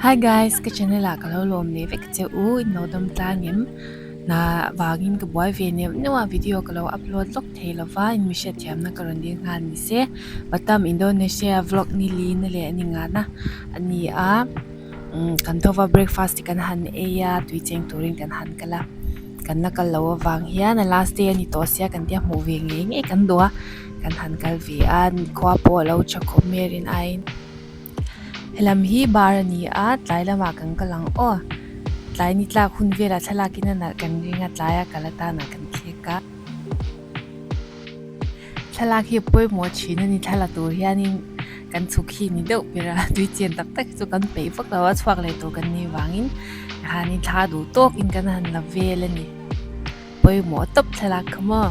Hi guys, ka channel ah ka lo lawm leh vek che u, in lo dam tla ngem na vangin ka buai ve neuh neuh a video ka lo upload lawk thei lo va, in mi hriat thiam na ka rawn dil nghal ni se, Batam Indonesia vlog ni li na leh a ni ngah na a ni a, umm kan thova breakfast hi kan han ei a, tui cheng turin kan han kal a. kan la kal lo avang hian a last day a ni tawh sia kan tia hmuh ve ngei ngei kan duh a kan han kal ve a khua pawh a lo tha khawp mai a rin aiin helam hi bar a ni a tlai lam ah kan kal ang aw tlai ni tlak hun vel ah thlalak in a nalh kan ring a tlai a kal atan ah kan thlek a. Thlalak hi pawimawh thin a ni, thla la tur hianin kan chhuk hi ni deuh ber a, tui chen tak tak hi chu kan peih vak lo a, chhuak leh tur kan nei vangin mahni thla duh tawkin kan han la vel a ni, pawimawh tawp thlalak khawmaw.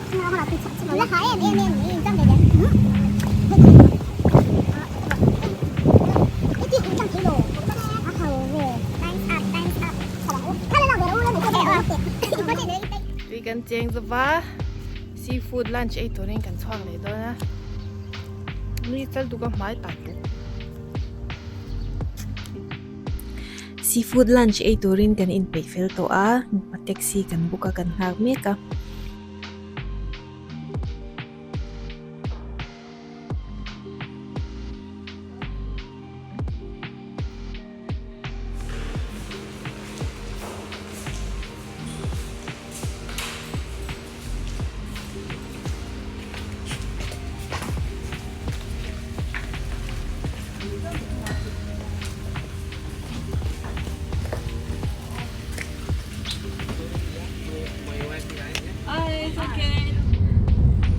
tui kan cheng zauh a sea food lunch ei tur in kan chhuak leh dawn a nui chal tu ka hmai tak bawk. Seafood lunch ei turin kan in peih fel tawh a, mipa taxi kan book a kan nghak mek a.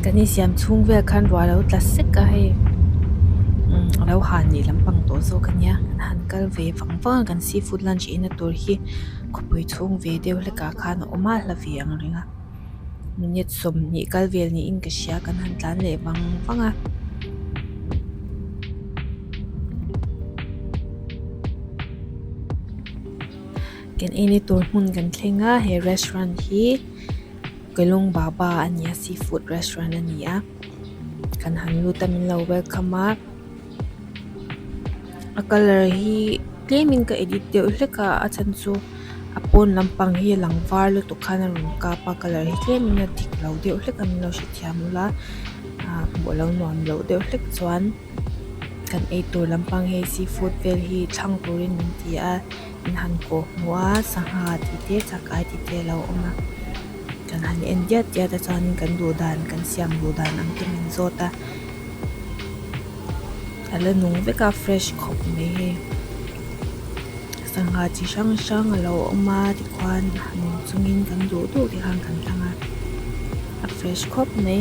Kan insiam chhung vel khan ruah lo tla sek a hei umm a lo han leh lampang tawh zawk a nia an han kal ve vang vang a kan seafood lunch inna tur hi. khawpui chhung ve deuh hlekah khan a awm a hla ve ang reng a minute sawmhnih kal vel niin ka hria kan han tlan leh vang vang a. Kan en na tur hmun kan thleng a he restaurant hi Kelong Baba a ni a seafood restaurant a ni a kan han lut a min lo welcome a. a colour hi tlem in ka edit deuh hlek a a chhan chu a pawn lampang hi a lang var lutuk khan a rawn kap a colour hi tlem in a dik lo deuh hlek a min lo hrethiam bawk a ah bawh lo nuam loh deuh hlek chuan kan eitur lampang hi seafood vel hi thlang tur in an ti a. Kan han kawh hmu a sangha tih te chakai tih te a lo awm a kan han en diat diat a chuan kan duh dan kan siam duh dan ang te min zawt a a la nung vek a fresh khawp mai hi sangha chi hrang hrang a lo awm a tikhuan a nung chung in kan duh duh te khan kan tlang a a fresh khawp mai.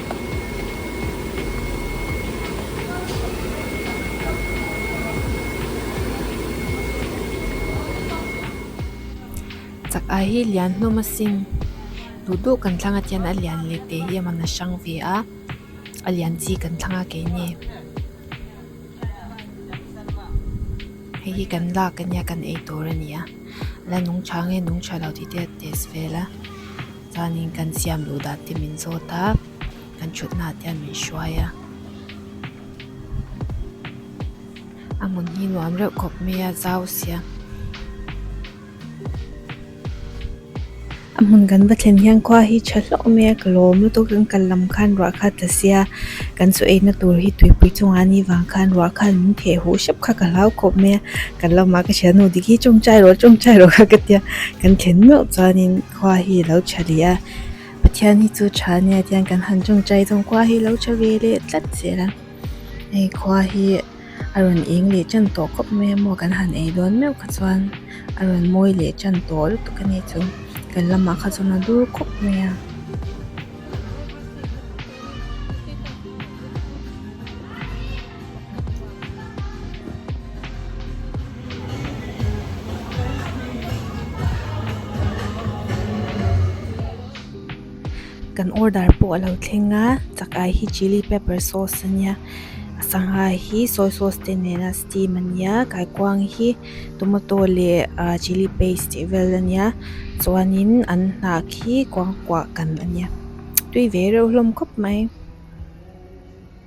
chak a hi lian hlawm a sin duh duh kan thlang a tian a lian leh teh hi a man a hrang ve a a lian chi kan thlang a kei nge hei hi kan lak a nia kan ei tur a ni a la nungcha nge nungcha lo tih te a test vel a. Chuanin kan siam duh dah te min zawt a, kan thutna ah te an min hruai a. A hmun hi nuam reuh khawp mai a, zau sia. A hmun kan va thlen hian khua hi tha hlauh mai a, ka lawm lutuk a, kan kal lam khan ruah kha ta sia. Kan saw eina tur hi tuipui chungah a ni vang khan ruah khan min theh huh hrep kha ka hlau khawp mai a. Kan lamah ka hria, Nu Digi chawmchai rawh, chawmchai rawh kha ka tia, kan thlen meuh chuanin. Khua hi a lo tha leh a, Pathian hi chu tha nia chuan kan han tawngtai zawng khua hi a lo tha ve leh tlat zel a, hei khua hi a rawn eng leh tan tawh khawp mai a maw kan han ei dawn meuh kha chuan a rawn mawi leh tan tawh lutuk a ni chu, kan lamah kha chuan a dur khawp mai a. Kan order pawh a lo thleng a chakah hi chilli pepper sauce a nia a sangha hi soy sauce te nena steam a nia kaikuang hi tomato leh ah chilli paste tih vel a nia chuanin an hnah khi kuang kuah kan a nia tui ve reuh hlawm khawp mai.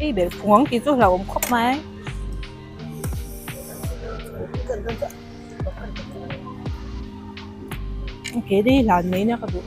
Hei ber phung ang tih chu hlauh awm khawp mai. Ke dei hlan mai na ka duh.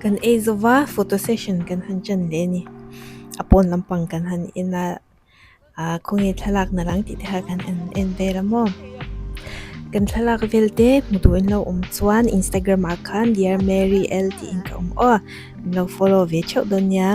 Kan ei zo va photo session kan han chan leh a ni a pawn lampang kan han en a ah khawnge thlalak na dang tih te kha kan han en ve ram maw kan thlalak vel te hmuh tur awm lo chuan Instagram ah khan Dear Mary L tih in ka awm aw min lo follow ve theuh dawn nia.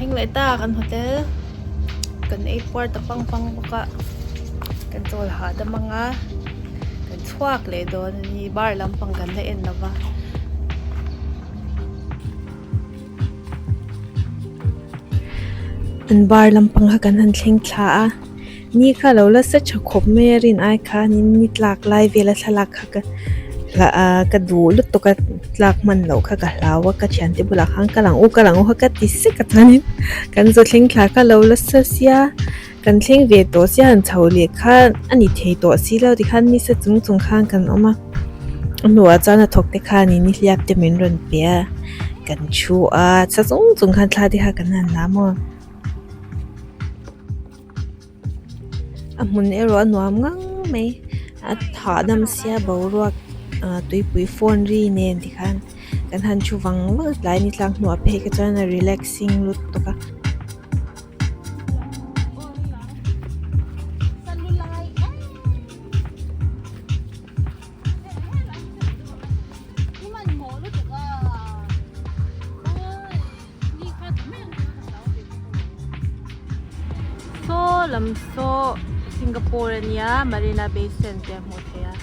thleng leh ta kan hotel kan ei puar ta pang pang bawk a kan chawl hahdam anga. chhuak leh dawn a ni bar lampang kan la en lova an bar lampang kha kan han thleng thla a ni kha lo la sa tha khawp mai a rin ai khan in ni tlak lai vela thlalak kha ka hla a ka duh lutuk a tlak hman loh kha ka hlau a ka thian te bulah khan ka lang u ka lang u kha ka ti sek a chuan in kan zuthleng thla kha lo la sa sia. Kan thleng ve tawh se han chho leh khan a ni thei tawh si lo ti khan hmisa chung chung khan kan awm a, a hnuah chuan a thawk te khan in nihliap te min rawn pe a, kan thu a, sa chung chung khan thla te kha kan han la maw. A hmun erawh a nuam ngang mai, a hahdam sia boruak tuipui fawn ri nen ti khan kan han thu vang vang a, tlai ni tlak hnu a phei kha chuan a relaxing lut bawk a. lam saw Singapore a nia Marina Bay Sands te a hmuh theih a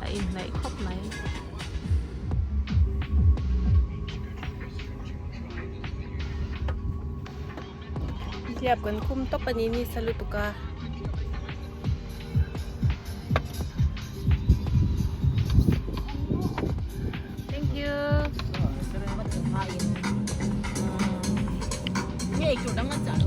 a inhnaih khawp mai Nihliap kan khum tawp a ni ni sa lutuk a. Thank you. Nge chu dang a chalo.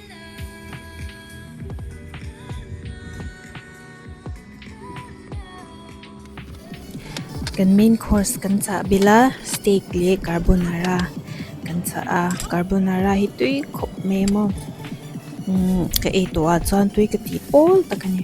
Kan main course kan chah bela steak leh carbonara kan chah a carbonara hi tui khawp mai a maw umm ka ei tawhah chuan tui ka tih pawl tak a ni.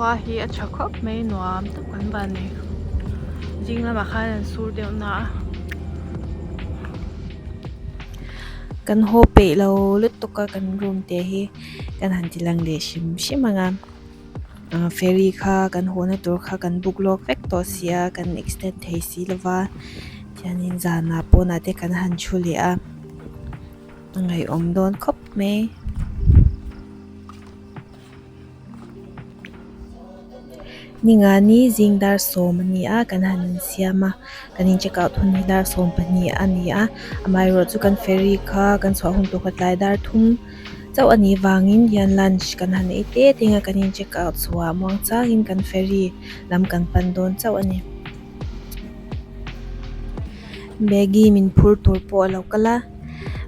khua hi a tha khawp mai nuam tak kan va ni zing lamah khan an sur deuh na a kan haw peih lo lutuk a kan room te hi kan han ti lang leh hrim hrim ang a. Ahh ferry kha kan hawnna tur kha kan book lawk vek tawh si a, kan extend thei si lo va, chuanin zanah pawnah te kan han thu leh a, a ngaihawm dawn khawp mai. Ningani zing dar sawm a ni a, kan han insiam a, kan in check out hun hi dar sawm pahnih a ni a, amaherawhchu kan ferry kha kan chhuah hun tur kawtlai dar thum-- Chauh a nih vangin hian lunch kan han ei teh teng a, kan in check out chhuah muang changin kan ferry lam kan pan dawn chauh a ni. Bag hi min phur tur pawh a lo kal a,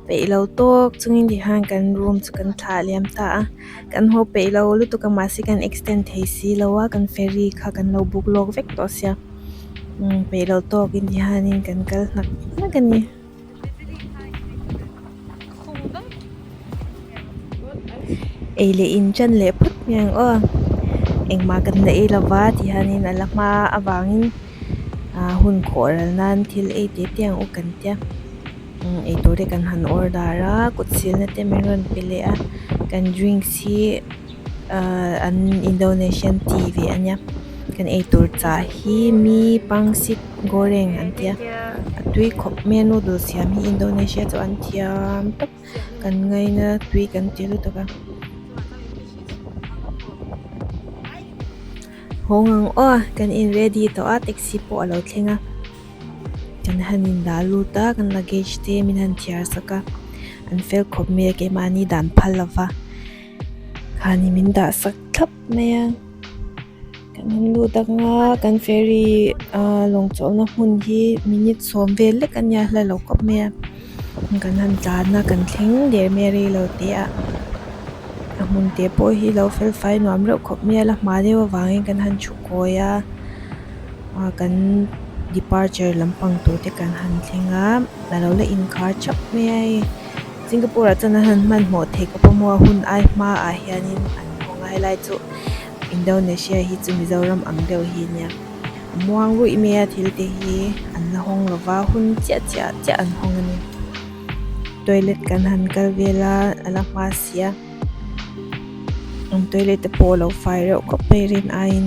peih lo tawk chungin ti hian kan room chu kan thlah liam ta a, kan haw peih lo lutuk a mahse kan extend thei si lo a, kan ferry kha kan lo book lawk vek tawh sia, umm peih lo tawkin ti hian kan kal hnak hnak a ni. Ei leh in chan leh phawt mai ang aw engmah kan la ei lova ti hianin a la hma avangin ahh hun khawh ral nan thil ei te te ang u kan tia umm eitur te kan han order a kut silna te min rawn pe leh a kan drinks hi-- an indonesian ti ve a nia kan eitur cha hi mi pangsit goreng an tia a tui khawp mai a noodles siam hi indonesia chuan an thiam tawp kan ngai na tui kan ti lutuk a hawng ang aw kan in ready tawh a taxi pawh a lo thleng a kan han in dah lut a kan luggage te min han thiar sak a an fel khawp mai a keimah hi dan phal lova. Khani min dah sak thlap mai a, kan awm lut anga kan ferry a lawng chawhna hmun hi minute sawm vel lek a nia hla lo kawp mai a, kan han tlan a kan thleng der mai a rei lo teh a, a hmun te pawh hi lo fel fai nuam reuh khawp mai a, la hma deuh avangin kan han thu kawi a, kan departure lampang tur te kan han thleng a, a lo la inkhar thap mai a hei. Singapore ah chuan a han hmanhmawh thei ka pawm a hun ai hma ah hianin an hawng a helai chu Indonesia hi chu Mizoram ang deuh hi nia a muang ruih mai a thil te hi an la hawng lo va hun chiah chiah chiah an hawng a ni toilet kan han kal vel a a la hma sia an toilet te pawh a lo fai reuh khawp mai rin aiin.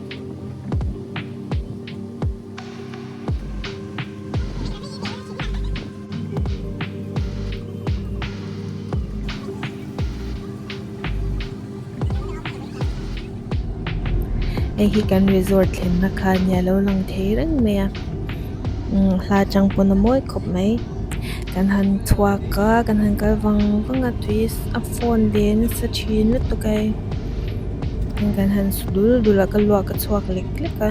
Hei hi kan resort thlenna khan a nia a lo lang thei reng mai a umm hla chang pawn a mawi khawp mai kan han chhuak a kan han kal vang vang a tui a phone leh nasa thin lutuk a. Heng kan han su dul dul a ka luah ka chhuak lek lek a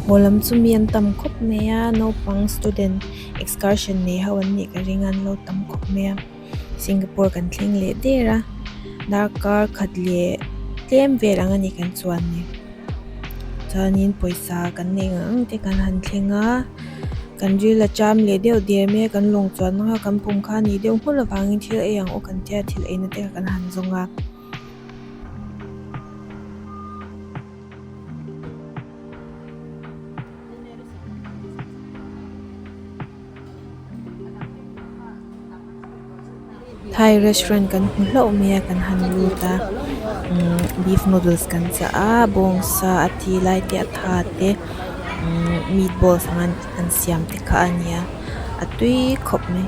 hmu lam chu mi an tam khawp mai a naupang student excursion nei ho an nih ka ring a an lo tam khawp mai a Singapore kan thleng leh der a darkar khat leh tlem vel ang a ni kan chuan ni. Chuanin pawisa kan neih ngang ang te kan han thleng a, kan ril a ṭam leh deuh der mai a, kan lawng chuan mang a, kan pawm kha ni deuh nghulh avangin thil ei ang awk an tia thil eina te kha kan han zawng a. Thai restaurant kan hmu hlauh mai a kan han lut a umm beef noodles kan chah a bawng sa a ti lai te a tha te umm meat balls anga an siam te kha a nia a tui khawp mai.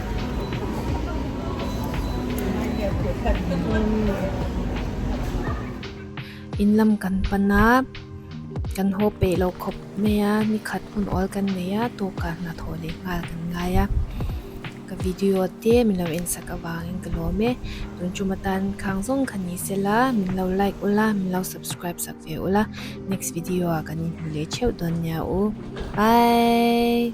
In lam kan pan a kan haw peih lo khawp mai a ni khat hun awl kan nei a tawk ah hna thawh leh nghal kan ngai a ka video te min lo en sak avang in ka lawm e tun chu ma tan khang zawng kha ni se la min lo like ul a min lo subscribe sak ve ul a next video ah kan in hmu leh theuh dawn nia u bye.